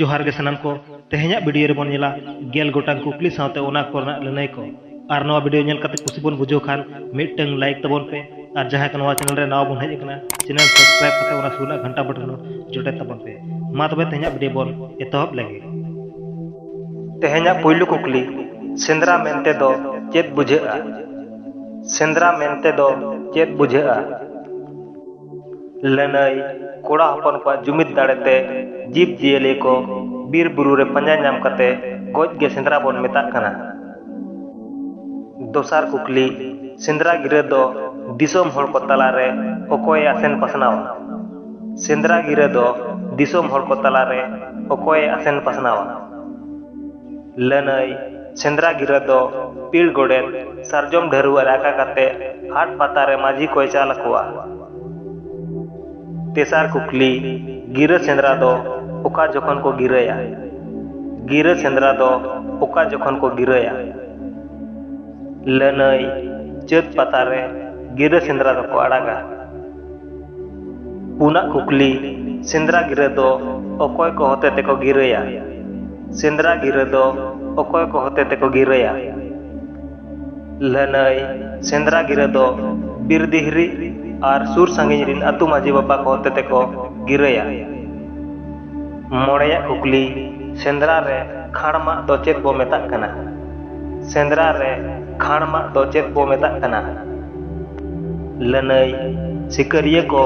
ᱡᱚᱦᱟᱨ ᱜᱮ ᱥᱟᱱᱟᱢ ᱠᱚ, ᱛᱮᱦᱮᱧᱟᱜ ᱵᱤᱰᱤᱭᱳ ᱨᱮ ᱵᱚᱱ ᱧᱮᱞᱟ ᱜᱮᱞ ᱜᱚᱴᱟᱝ ᱠᱩᱠᱞᱤ ᱥᱟᱶᱛᱮ ᱚᱱᱟ ᱠᱚ ᱨᱮᱱᱟᱜ ᱞᱟᱹᱱᱟᱹᱭ ᱠᱚ᱾ ᱟᱨ ᱱᱚᱣᱟ ᱵᱤᱰᱤᱭᱳ ᱧᱮᱞ ᱠᱟᱛᱮ ᱠᱩᱥᱤ ᱵᱚᱱ ᱵᱩᱡᱷᱟᱹᱣ ᱠᱷᱟᱱ ᱢᱤᱫᱴᱟᱹᱝ ᱞᱟᱭᱤᱠ ᱛᱟᱵᱚᱱ ᱯᱮ ᱟᱨ ᱡᱟᱦᱟᱸᱭ ᱠᱚ ᱱᱚᱣᱟ ᱪᱮᱱᱮᱞ ᱨᱮ ᱱᱟᱣᱟ ᱵᱚᱱ ᱦᱮᱡ ᱟᱠᱟᱱᱟ ᱪᱮᱱᱮᱞ ᱥᱟᱵᱥᱠᱨᱟᱭᱤᱵ ᱠᱟᱛᱮ ᱚᱱᱟ ᱥᱩᱨ ᱨᱮᱱᱟᱜ ᱜᱷᱟᱱᱴᱟ ᱵᱚᱴᱚᱱ ᱦᱚᱸ ᱡᱚᱴᱮᱫ ᱛᱟᱵᱚᱱ ᱯᱮ᱾ ᱢᱟ ᱛᱚᱵᱮ ᱛᱮᱦᱮᱧᱟᱜ ᱵᱤᱰᱤᱭᱳ ᱵᱚᱱ ᱮᱛᱚᱦᱚᱵ ᱞᱮᱜᱮ᱾ ᱛᱮᱦᱮᱧᱟᱜ ᱯᱩᱭᱞᱩ ᱠᱩᱠᱞᱤ, ᱥᱮᱸᱫᱽᱨᱟ ᱢᱮᱱᱛᱮ ᱫᱚ ᱪᱮᱫ ᱵᱩᱡᱷᱟᱹᱜᱼᱟ? ᱥᱮᱸᱫᱽᱨᱟ ᱢᱮᱱᱛᱮ ᱫᱚ ᱪᱮᱫ ᱵᱩᱡᱷᱟᱹᱜᱼᱟ? ᱞᱟᱹᱱᱟᱹᱭ ᱠᱚᱲᱟ ᱦᱚᱯᱚᱱ ᱠᱚᱣᱟᱜ ᱡᱩᱢᱤᱫ ᱫᱟᱲᱮ ᱛᱮ ᱡᱤᱵᱽ ᱡᱤᱭᱟᱹᱞᱤ ᱠᱚ ᱵᱤᱨ ᱵᱩᱨᱩ ᱨᱮ ᱯᱟᱸᱡᱟ ᱧᱟᱢ ᱠᱟᱛᱮ ᱜᱚᱡ ᱜᱮ ᱥᱮᱸᱫᱽᱨᱟ ᱵᱚᱱ ᱢᱮᱛᱟᱜ ᱠᱟᱱᱟ᱾ ᱫᱚᱥᱟᱨ ᱠᱩᱠᱞᱤ, ᱥᱮᱸᱫᱽᱨᱟ ᱜᱤᱨᱟᱹ ᱫᱚ ᱫᱤᱥᱚᱢ ᱦᱚᱲ ᱠᱚ ᱛᱟᱞᱟ ᱨᱮ ᱚᱠᱚᱭ ᱮ ᱟᱥᱮᱱ ᱯᱟᱥᱱᱟᱣᱟ? ᱥᱮᱸᱫᱽᱨᱟ ᱜᱤᱨᱟᱹ ᱫᱚ ᱫᱤᱥᱚᱢ ᱦᱚᱲ ᱠᱚ ᱛᱟᱞᱟ ᱨᱮ ᱚᱠᱚᱭ ᱮ ᱟᱥᱮᱱ ᱯᱟᱥᱱᱟᱣᱟ? ᱞᱟᱹᱱᱟᱹᱭ ᱥᱮᱸᱫᱽᱨᱟ ᱜᱤᱨᱟᱹ ᱫᱚ ᱯᱤᱲ ᱜᱚᱰᱮᱛ ᱥᱟᱨᱡᱚᱢ ᱰᱷᱟᱹᱨᱣᱟᱹᱜ ᱨᱮ ᱟᱠᱟ ᱠᱟᱛᱮ ᱦᱟᱴ ᱯᱟᱛᱟ ᱨᱮ ᱢᱟᱹᱡᱷᱤ ᱠᱚᱭ ᱪᱟᱞ ᱟᱠᱚᱣᱟ᱾ ᱛᱮᱥᱟᱨ ᱠᱩᱠᱞᱤ, ᱜᱤᱨᱟᱹ ᱥᱮᱸᱫᱽᱨᱟ ᱫᱚ ᱚᱠᱟ ᱡᱚᱠᱷᱚᱱ ᱠᱚ ᱜᱤᱨᱟᱹᱭᱟ? ᱜᱤᱨᱟᱹ ᱥᱮᱸᱫᱽᱨᱟ ᱫᱚ ᱚᱠᱟ ᱡᱚᱠᱷᱚᱱ ᱠᱚ ᱜᱤᱨᱟᱹᱭᱟ? ᱞᱟᱹᱱᱟᱹᱭ, ᱪᱟᱹᱛ ᱯᱟᱛᱟ ᱨᱮ ᱜᱤᱨᱟᱹ ᱥᱮᱸᱫᱽᱨᱟ ᱫᱚᱠᱚ ᱟᱲᱟᱜᱟ᱾ ᱯᱩᱱᱟᱜ ᱠᱩᱠᱞᱤ, ᱥᱮᱸᱫᱽᱨᱟ ᱜᱤᱨᱟᱹ ᱫᱚ ᱚᱠᱚᱭ ᱠᱚ ᱦᱚᱛᱮ ᱛᱮᱠᱚ ᱜᱤᱨᱟᱹᱭᱟ? ᱥᱮᱸᱫᱽᱨᱟ ᱜᱤᱨᱟᱹ ᱫᱚ ᱚᱠᱚᱭ ᱠᱚ ᱦᱚᱛᱮ ᱛᱮᱠᱚ ᱜᱤᱨᱟᱹᱭᱟ? ᱞᱟᱹᱱᱟᱹᱭ, ᱥᱮᱸᱫᱽᱨᱟ ᱜᱤᱨᱟᱹ ᱫᱚ ᱵᱤᱨ ᱫᱤᱦᱨᱤ ᱟᱨ ᱥᱩᱨ ᱥᱟᱺᱜᱤᱧ ᱨᱤᱱ ᱟᱹᱛᱩ ᱢᱟᱹᱡᱷᱤ ᱵᱟᱵᱟ ᱠᱚ ᱦᱚᱛᱮ ᱛᱮᱠᱚ ᱜᱤᱨᱟᱹᱭᱟ᱾ ᱢᱚᱬᱮᱭᱟᱜ ᱠᱩᱠᱞᱤ, ᱥᱮᱸᱫᱽᱨᱟ ᱨᱮ ᱠᱷᱟᱸᱲ ᱢᱟᱜ ᱫᱚ ᱪᱮᱫ ᱵᱚ ᱢᱮᱛᱟᱜ ᱠᱟᱱᱟ? ᱥᱮᱸᱫᱽᱨᱟ ᱨᱮ ᱠᱷᱟᱸᱲ ᱢᱟᱜ ᱫᱚ ᱪᱮᱫ ᱵᱚ ᱢᱮᱛᱟᱜ ᱠᱟᱱᱟ? ᱞᱟᱹᱱᱟᱹᱭ, ᱥᱤᱠᱟᱹᱨᱤᱭᱟᱹ ᱠᱚ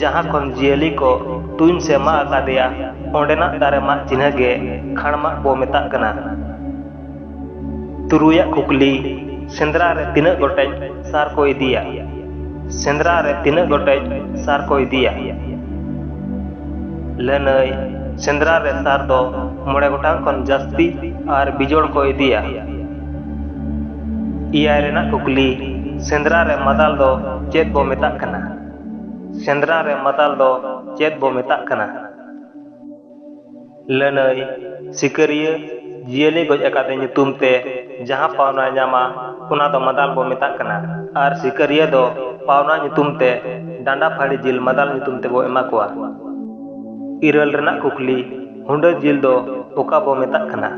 ᱡᱟᱦᱟᱸ ᱠᱷᱚᱱ ᱡᱤᱭᱟᱹᱞᱤ ᱠᱚ ᱛᱩᱧ ᱥᱮ ᱢᱟᱜ ᱟᱠᱟᱫᱮᱭᱟ ᱚᱸᱰᱮᱱᱟᱜ ᱫᱟᱨᱮ ᱢᱟᱜ ᱪᱤᱱᱦᱟᱹ ᱜᱮ ᱠᱷᱟᱬ ᱢᱟᱜ ᱵᱚ ᱢᱮᱛᱟᱜ ᱠᱟᱱᱟ᱾ ᱛᱩᱨᱩᱭ ᱟᱜ ᱠᱩᱠᱞᱤ, ᱥᱮᱸᱫᱽᱨᱟ ᱨᱮ ᱛᱤᱱᱟᱹᱜ ᱜᱚᱴᱮᱡ ᱥᱟᱨ ᱠᱚ ᱤᱫᱤᱭᱟ? ᱥᱮᱸᱫᱽᱨᱟ ᱨᱮ ᱛᱤᱱᱟᱹᱜ ᱜᱚᱴᱮᱡ ᱥᱟᱨ ᱠᱚ ᱤᱫᱤᱭᱟ? ᱞᱟᱹᱱᱟᱹᱭ, ᱥᱮᱸᱫᱽᱨᱟ ᱨᱮ ᱥᱟᱨ ᱫᱚ ᱢᱚᱬᱮ ᱜᱚᱴᱟᱝ ᱠᱷᱚᱱ ᱡᱟᱹᱥᱛᱤ ᱟᱨ ᱵᱤᱡᱚᱲ ᱠᱚ ᱤᱫᱤᱭᱟ᱾ ᱮᱭᱟᱭ ᱨᱮᱱᱟᱜ ᱠᱩᱠᱞᱤ ᱥᱮᱸᱫᱽᱨᱟ ᱨᱮ ᱢᱟᱫᱟᱞ ᱫᱚ ᱪᱮᱫ ᱵᱚ ᱢᱮᱛᱟᱜ ᱠᱟᱱᱟ ᱥᱮᱸᱫᱽᱨᱟ ᱨᱮ ᱢᱟᱫᱟᱞ ᱫᱚ ᱪᱮᱫ ᱵᱚ ᱢᱮᱛᱟᱜ ᱠᱟᱱᱟ ᱞᱟᱹᱱᱟᱹᱭ ᱥᱤᱠᱟᱹᱨᱤᱭᱟᱹ ᱡᱤᱭᱟᱹᱞᱤ ᱜᱚᱡ ᱟᱠᱟᱫᱮ ᱧᱩᱛᱩᱢ ᱛᱮ ᱡᱟᱦᱟᱸ ᱯᱟᱣᱱᱟ ᱧᱟᱢᱟ ᱚᱱᱟ ᱫᱚ ᱢᱟᱫᱟᱞ ᱵᱚ ᱢᱮᱛᱟᱜ ᱠᱟᱱᱟ ᱟᱨ ᱥᱤᱠᱟᱹᱨᱤᱭᱟᱹ ᱫᱚ ᱯᱟᱣᱱᱟ ᱧᱩᱛᱩᱢ ᱛᱮ ᱰᱟᱸᱰᱟ ᱯᱷᱟᱹᱲᱤ ᱡᱤᱞ ᱢᱟᱫᱟᱞ ᱧᱩᱛᱩᱢ ᱛᱮ ᱵᱚ ᱮᱢᱟ ᱠᱚᱣᱟ ᱤᱨᱟᱹᱞ ᱨᱮᱱᱟᱜ ᱠᱩᱠᱞᱤ ᱦᱩᱸᱰᱟᱹ ᱡᱤᱞ ᱫᱚ ᱚᱠᱟ ᱵᱚ ᱢᱮᱛᱟᱜ ᱠᱟᱱᱟ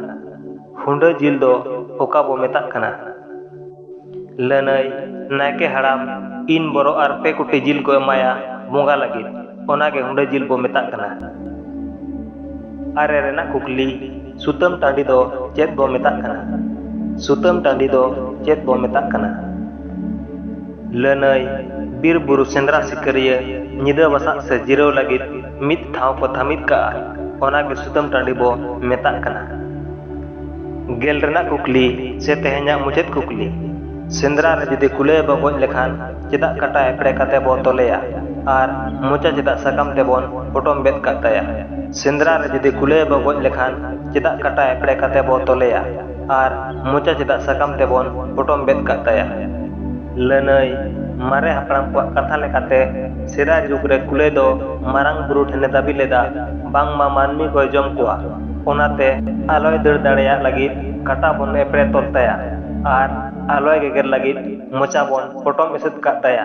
ᱦᱩᱰᱟᱹ ᱡᱤᱞ ᱫᱚ ᱚᱠᱟ ᱵᱚ ᱢᱮᱛᱟᱜ ᱠᱟᱱᱟ? ᱞᱟᱹᱱᱟᱹᱭ, ᱱᱟᱭᱠᱮ ᱦᱟᱲᱟᱢ ᱤᱱ ᱵᱚᱨᱚ ᱟᱨ ᱯᱮ ᱠᱩᱴᱤ ᱡᱤᱞ ᱠᱚ ᱮᱢᱟᱭᱟ ᱵᱚᱸᱜᱟ ᱞᱟᱹᱜᱤᱫ, ᱚᱱᱟ ᱜᱮ ᱦᱩᱰᱟᱹ ᱡᱤᱞ ᱵᱚ ᱢᱮᱛᱟᱜ ᱠᱟᱱᱟ᱾ ᱟᱨᱮ ᱨᱮᱱᱟᱜ ᱠᱩᱠᱞᱤ, ᱥᱩᱛᱟᱹᱢ ᱴᱟᱺᱰᱤ ᱫᱚ ᱪᱮᱫ ᱵᱚ ᱢᱮᱛᱟᱜ ᱠᱟᱱᱟ? ᱥᱩᱛᱟᱹᱢ ᱴᱟᱺᱰᱤ ᱫᱚ ᱪᱮᱫ ᱵᱚ ᱢᱮᱛᱟᱜ ᱠᱟᱱᱟ? ᱞᱟᱹᱱᱟᱹᱭ, ᱵᱤᱨ ᱵᱩᱨᱩ ᱥᱮᱸᱫᱽᱨᱟ ᱥᱤᱠᱟᱹᱨᱤᱭᱟᱹ ᱧᱤᱫᱟᱹ ᱵᱟᱥᱟᱜ ᱥᱮ ᱡᱤᱨᱟᱹᱣ ᱞᱟᱹᱜᱤᱫ᱾ ᱢᱤᱫ ᱴᱷᱟᱶ ᱠᱚ ᱛᱷᱟᱢᱤᱫ ᱠᱟᱜᱼᱟ ᱚᱱᱟ ᱜᱮ ᱥᱩᱛᱟᱹᱢ ᱴᱟᱺᱰᱤ ᱵᱚ ᱢᱮᱛᱟᱜ ᱠᱟᱱᱟ ᱜᱮᱞ ᱨᱮᱱᱟᱜ ᱠᱩᱠᱞᱤ ᱥᱮ ᱛᱮᱦᱮᱧᱟᱜ ᱢᱩᱪᱟᱹᱫ ᱠᱩᱠᱞᱤ ᱥᱮᱸᱫᱽᱨᱟ ᱨᱮ ᱡᱩᱫᱤ ᱠᱩᱞᱟᱹᱭ ᱵᱚ ᱜᱚᱡ ᱞᱮᱠᱷᱟᱱ ᱪᱮᱫᱟᱜ ᱠᱟᱴᱟ ᱮᱯᱲᱮ ᱠᱟᱛᱮ ᱵᱚ ᱛᱚᱞᱮᱭᱟ ᱟᱨ ᱢᱚᱪᱟ ᱪᱮᱫᱟᱜ ᱥᱟᱠᱟᱢ ᱛᱮᱵᱚᱱ ᱯᱚᱴᱚᱢ ᱵᱮᱫ ᱠᱟᱜ ᱛᱟᱭᱟ ᱥᱮᱸᱫᱽᱨᱟ ᱨᱮ ᱡᱩᱫᱤ ᱠᱩᱞᱟᱹᱭ ᱵᱚ ᱜᱚᱡ ᱞᱮᱠᱷᱟᱱ ᱪᱮᱫᱟᱜ ᱠᱟᱴᱟ ᱮᱯᱲᱮ ᱠᱟᱛᱮ ᱵᱚ ᱛᱚᱞᱮᱭᱟ ᱟᱨ ᱢᱚᱪᱟ ᱪᱮᱫᱟᱜ ᱥᱟᱠᱟᱢ ᱛᱮᱵᱚᱱ ᱯᱚᱴᱚᱢ ᱵᱮᱫ ᱠᱟᱜ ᱛᱟᱭᱟ ᱞᱟᱹᱱᱟᱹᱭ ᱢᱟᱨᱮ ᱦᱟᱯᱲᱟᱢ ᱠᱚᱣᱟᱜ ᱠᱟᱛᱷᱟ ᱞᱮᱠᱟᱛᱮ ᱥᱮᱫᱟᱭ ᱡᱩᱜᱽ ᱨᱮ ᱠᱩᱞᱟᱹᱭ ᱫᱚ ᱢᱟᱨᱟᱝ ᱵᱩᱨᱩ ᱴᱷᱮᱱ ᱮ ᱫᱟᱹᱵᱤ ᱞᱮᱫᱟ ᱵᱟᱝᱢᱟ ᱢᱟᱹᱱᱢᱤ ᱠᱚᱭ ᱡᱚᱢ ᱠᱚᱣᱟ ᱚᱱᱟᱛᱮ ᱟᱞᱚᱭ ᱫᱟᱹᱲ ᱫᱟᱲᱮᱭᱟᱜ ᱞᱟᱹᱜᱤᱫ ᱠᱟᱴᱟ ᱵᱚᱱ ᱮᱯᱲᱮ ᱛᱚᱞ ᱛᱟᱭᱟ ᱟᱨ ᱟᱞᱚᱭ ᱜᱮᱜᱮᱨ ᱞᱟᱹᱜᱤᱫ ᱢᱚᱪᱟ ᱵᱚᱱ ᱯᱚᱴᱚᱢ ᱮᱥᱮᱫ ᱠᱟᱜ ᱛᱟᱭᱟ᱾